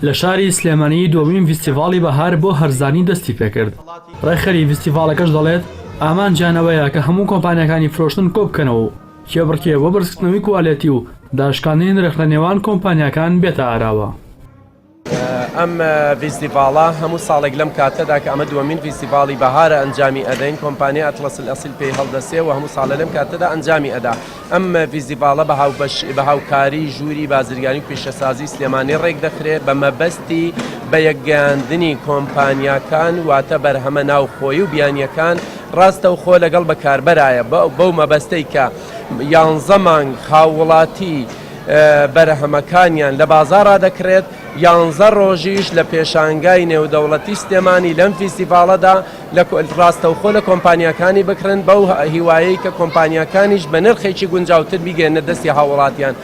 لە شاری سلێمانی دووەمین فیستیڤاڵی بەهار بۆ هەرزانی دەستی پێکرد ڕێکخەری فیستیڤاڵەکەش دەڵێت ئامانجیانەوەیە کە هەموو کۆمپانیەکانی فرۆشتن کۆبکەنەوە و کێبڕکێ بۆ بەرزکردنەوەی کوالێتی و داشکاندنی نرخ لە نێوان کۆمپانیاکان بێتە ئاراوە. ئەم ڤیستیڤاڵە هەموو ساڵێک لەم کاتەدا کە ئەمە دووەمین ڤیستیڤاڵی بەهارە ئەنجامی ئەدەین کۆمپانیا ئەتڵەسل ئەسیل پێی هەڵدەسێ و هەموو ساڵە لەم کاتەدا ئەنجامی ئەدا ئەم ڤیستیڤاڵە بە هاوبەش بە هاوکاری ژووری بازرگانی و پیشەسازی سلێمانی ڕێک دەخرێ بە مەبەستی بە یەکگەیاندنی کۆمپانیاکان واتە بەرهەمە ناوخۆی و بیانیەکان ڕاستە و خۆ لەگەڵ بەکاربەرایە بەو مەبەستەی کە یانزە مانگ هاووڵاتی بەرهەمەکانیان لە بازاڕا دەکڕێت، یانزە ڕۆژیش لە پێشانگای نێودەوڵەتی سلێمانی لەم فیستیڤاڵەدا لە ڕاستەوخۆ لە کۆمپانیاکانی بکڕن بەو هیوایەی کە کۆمپانیاکانیش بە نرخێکی گونجاوتر بیگەیەننە دەستی هاووڵاتیان.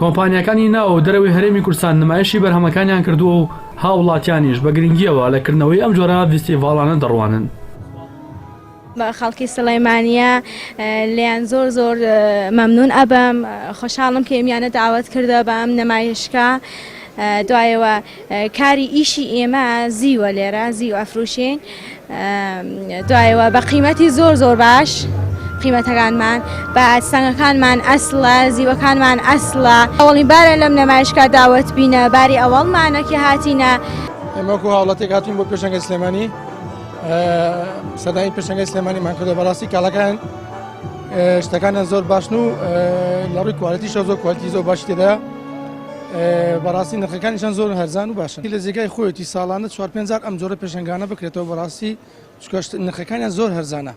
کۆمپانیاکانی ناو و دەرەوەی هەرێمی کوردستان نمایشی بەرهەمەکانیان کردووە و هاووڵاتیانیش بە گرنگییەوە لە کردنەوەی ئەم جۆرە ڤیستیڤاڵانە دەڕوانن. خەڵکی سلەیمانیە لێیان زۆر زۆر مەمنون ئەبم خۆشحاڵم کە ئێمیانە داوت کردە بە ئەم نەمایشکە دوایەوە کاری ئیشی ئێمە زیوە لێرە زیو ئەفروشین دوایەوە بە قیمەتی زۆر زۆر باش. قیمەتەکانمان بە سەنگەکانمان ئەسڵە زیوەکانمان ئەسڵە ئەوڵی بارە لەم نەمایشکا داوت بینە باری ئەوەڵمانەکی هاتینە ئەمەکو هاوڵاتێک هاتین بۆ پێشەنگە سلێمانی سەدای پێشەنگی سلێمانیمان کردو بەڕاستی کاڵەکان شتەکانیان زۆر باشن و لە ڕووی کوالەتی شە زۆر کوالتی زۆر باش تێدا بەڕاستی نرخەکانیشان زۆر هەرزان و باشن لە جێگای خۆیەتی ساڵانە چوار پێنجار ئەم جۆرە پێشنگانە بکرێتەوە بەڕاستی چکەشت نرخەکانیان زۆر هەرزانە.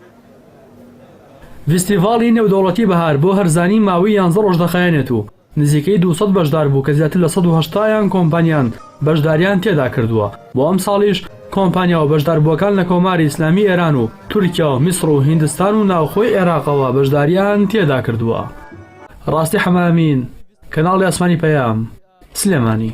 ڤیستیڤاڵی نێودەوڵەتی بەهار بۆ هەرزانی ماوی یانزە ڕۆژ دەخایەنێت و نزیکەی دوو سەد بەشدار بوو کە زیاتر لە سەد و هەشتا یان کۆمپانیان بەشداریان تێدا کردووە بۆ ئەمساڵیش کۆمپانیا و بەشداربووەکان لە کۆماری ئیسلامی ئێران و تورکیا و میسڕ و هیندستان و ناوخۆی عێراقەوە بەشداریان تێدا کردووە. ڕاستی حەمامین، کەناڵی ئاسمانی پەیام، سلێمانی.